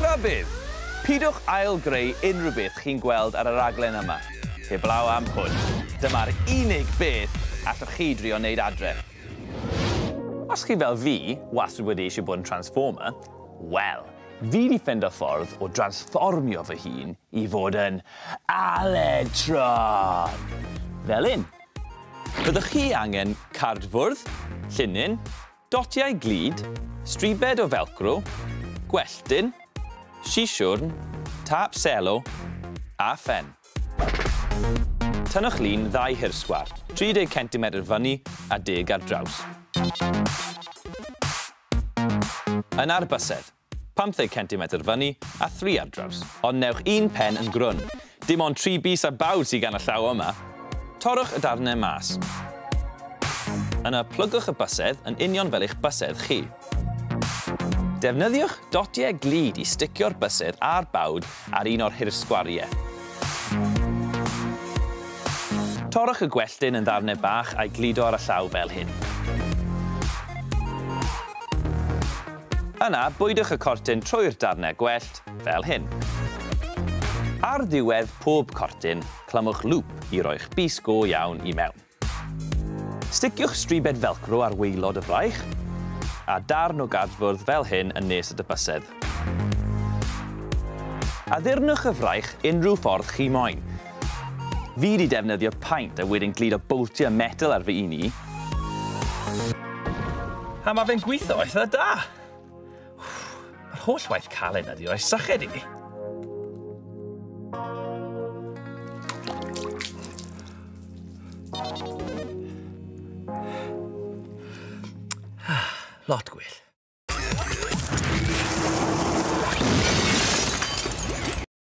Rhybudd! Pidwch ail-greu unrhyw beth chi'n gweld ar y raglen yma, heblaw am hwn. Dyma'r unig beth allwch chi drio wneud adre. Os chi fel fi, wastad wedi eisiau bod yn Transformer, wel, fi 'di ffendo ffordd o dransfformio fy hun i fod yn Aledtron! Fel 'yn. Byddwch chi angen cardfwrdd, llinyn, Dotiau glud, stribed o felcro, gwelltyn, sisiwrn, tâp selo a phen. Tynnwch lun ddau hirsgwar, 30 centimetr fyny a deg ar draws. Yn arbysedd. 50 centimetr fyny a thri ar draws. Ond newch un pen yn grwn. Dim ond tri bys a bawd sydd gan y llaw yma. Torrwch y darnau mas. Yna plygwch y bysedd yn union fel eich bysedd chi. Defnyddiwch dotiau glud i sticio'r bysedd a'r bawd ar un o'r hirsgwariau. Torrwch y gwelltyn yn ddarnau bach a'i gludo ar y llaw fel hyn. Yna, bwydwch y cortyn trwy'r darnau gwellt, fel hyn. Ar ddiwedd pob cortyn, clymwch lŵp i roi'ch bys go iawn i mewn. Sticiwch stribed felcro ar waelod y fraich, a darn o gardfwrdd fel hyn yn nes y dy bysedd. Addurnwch y fraich unrhyw ffordd chi moyn, Fi 'di defnyddio paint a wedyn gludo boltiau metel ar fy un i. A mae fe'n gweithio eitha da! Yr holl waith caled na di roi syched i mi. Lot gwell.